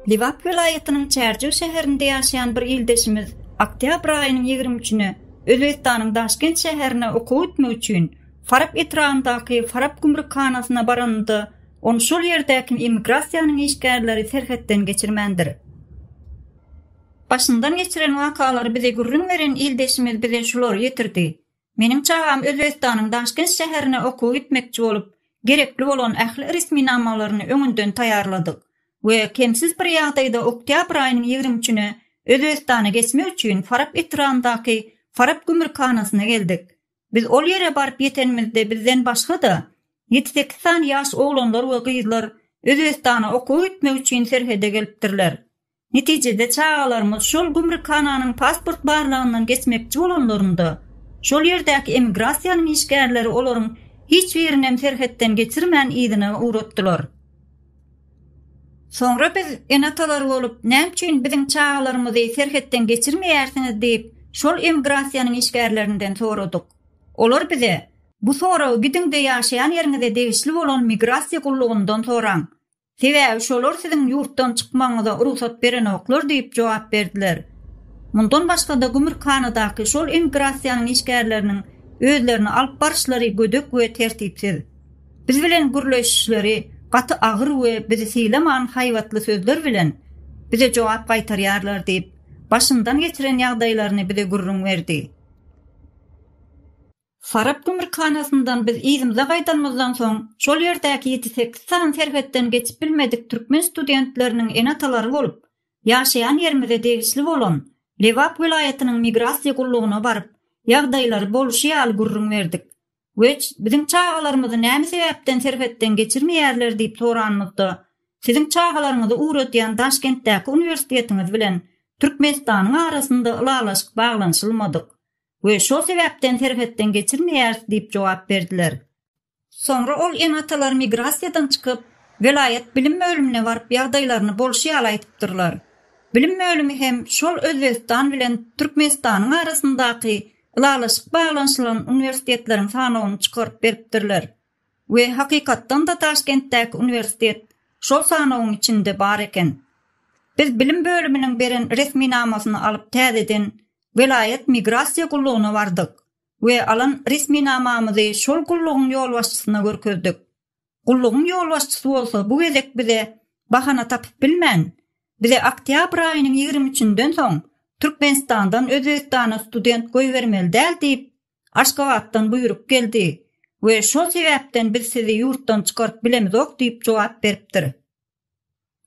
Lebap welaýatynyň Çärjew şäherinde ýaşaýan bir ildeşimiz oktýabr aýynyň ýigrimi üçüne Özbegistanyň Daşkent şäherine okuw etmek üçin Farap etrabyndaky Farap gümrükhanasyna baranynda, ony şol ýerdäki immigrasiýanyň işgärleri serhetden geçirmändir. Başyndan geçiren wakalary bize gürrüň beren ildeşimiz bize şulary ýetirdi. Meniň çagam Özbegistanyň Daşkent şäherine okuwa gitmekçi bolup, gerekli bolan ähli resminamalaryny öňünden taýýarladyk we kemsiz bir ýagdaýda oktýabr aýynyň ýigrimi üçüne Özbegistana geçmek üçin Farap etrabyndaky Farap gümrükhanasyna geldik. Biz ol ýere baryp ýetenimizde bizden başga-da, ýedi-sekiz sany ýaş oglanlar we gyzlar Özbegistana okuwa gitmek üçin serhede gelipdirler. Netijede, çagalarymyz şol gümrükhananyň pasport barlagyndan geçmekçi bolanlarynda, şol ýerdäki emigrasiýanyň işgärleri olaryň hiç birinem serhetden geçirmän yzyna ugratdylar. Soňra biz ene-atalar bolup, näme üçin biziň çagalarymyzy serhetden geçirmeýärsiňiz diýip, şol emigrasiýanyň işgärlerinden soradyk. Olar bize, Bu soragy gidiň-de ýaşaýan ýeriňize degişli bolan migrasiýa gullugyndan soraň. Sebäbi şolar siziň ýurtdan çykmagyňyza rugsat berenoklar diýip jogap berdiler. Mundan başga-da gümrükhanadaky şol immigrasiýanyň işgärleriniň özlerini alyp baryşlary gödek we tertipsiz. Biz bilen gürleşişleri gaty agyr we bizi sylaman haýbatly sözler bilen bize jogap gaýtarýarlar diýip, başyndan geçiren ýagdaýlaryny bize gürrüň berdi. Farap gümrükhanasyndan biz yzymyza gaýdanymyzdan soň, şol ýerdäki ýedi-sekiz sany serhetden geçip bilmedik türkmen studentleriniň ene-atalary bolup, ýaşaýan ýerimize degişli bolan Lebap welaýatynyň migrasiýa gullugyna baryp, ýagdaýlary bolşy ýaly gürrüň berdik. Weç, biziň çagalarymyzy näme sebäpden serhetden geçirmeýärler diýip soranymyzda, Siziň çagalaryňyzy ugradýan Daşkentdäki uniwersitetiňiz bilen Türkmenistanyň arasynda ylalaşyk baglanyşylmadyk. we şol sebäpden serhetden geçirmeýäris diýip jogap berdiler. Soňra ol ene-atalar migrasiýadan çykyp, welaýat bilim bölümine baryp ýagdaýlaryny bolşy ýaly aýdypdyrlar. Bilim bölümi hem şol Özbegistan bilen Türkmenistanyň arasyndaky ylalaşyk baglanyşylan uniwersitetleriň sanawyny çykaryp beripdirler we hakykatdan-da Daşkentdäki uniwersitet şol sanawyň içinde bar eken. Biz bilim bölüminiň beren resminamasyny alyp täzeden welaýat migrasiýa gullugyna bardyk we alan resminamamyzy şol gullugyň ýolbaşçysyna görkezdik. Gullugyň ýolbaşçysy bolsa bu gezek bize bahana tapyp bilmän, bize oktýabr aýynyň ýigrimi üçünden soň Türkmenistandan Özbegistana student goýbermeli däl diýip, Aşgabatdan buýruk geldi we şol sebäpden biz sizi ýurtdan çykaryp bilemizok diýip jogap beripdir.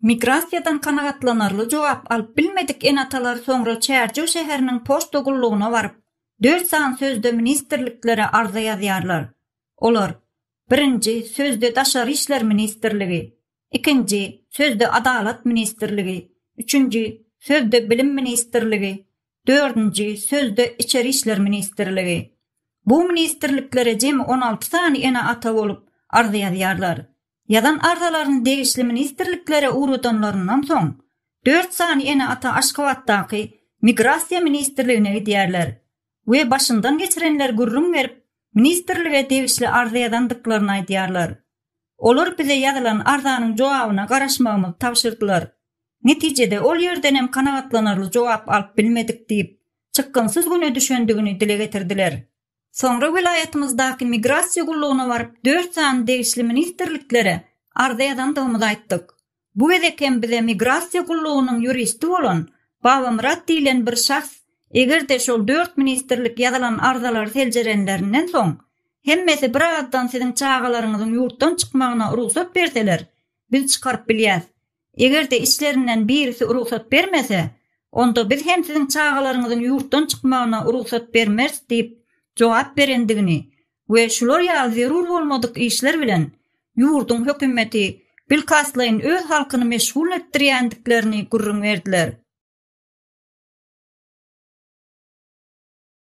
Migrasiýadan kanagatlanarly jogap alyp bilmedik ene-atalar soňra Çärjew şäheriniň poçta gullugyna baryp, dört sany sözde ministrliklere arza ýazýarlar. Olar, birinji, sözde Daşary işler ministrligi, ikinji, sözde Adalat ministrligi, üçünji, sözde Bilim ministrligi, dördünji, sözde Içeri işler ministrligi. Bu ministrliklere jemi on alty sany ene-ata bolup, arza ýazýarlar. Ýazan arzalaryny degişli ministrliklere ugradanlaryndan soň, dört sany ene-ata Aşgabatdaky Migrasiýa ministrligine gidýärler we başyndan geçirenleri gürrüň berip, ministrlige degişli arza ýazandyklaryny aýdýarlar. Olar bize ýazylan arzanyň jogabyna garaşmagymyzy tabşyrdylar. Netijede ol ýerdenem kanagatlanarly jogap alyp bilmedik diýip, çykgynsyz güne düşendigini dile getirdiler. Soňra welaýatymyzdaky Migrasiýa gullugyna baryp, dört sany degişli ministrliklere arza ýazandygymyzy aýtdyk. Bu gezek hem bize Migrasiýa gullugynyň ýuristi bolan Babamyrat diýlen bir şahs, eger-de şol dört ministrlik ýazylan arzalary seljerenlerinden soň, hemmesi birazdan siziň çagalaryňyzyň ýurtdan çykmagyna rugsat berseler, biz çykaryp bilýäs. Eger-de içlerinden birisi rugsat bermese, onda biz hem siziň çagalaryňyzyň ýurtdan çykmagyna rugsat bermeris diýip jogap berendigini we şular ýaly zerur bolmadyk işler bilen ýurduň hökümeti bilkastlaýyn öz halkyny meşgul etdirýändiklerini gürrüň berdiler.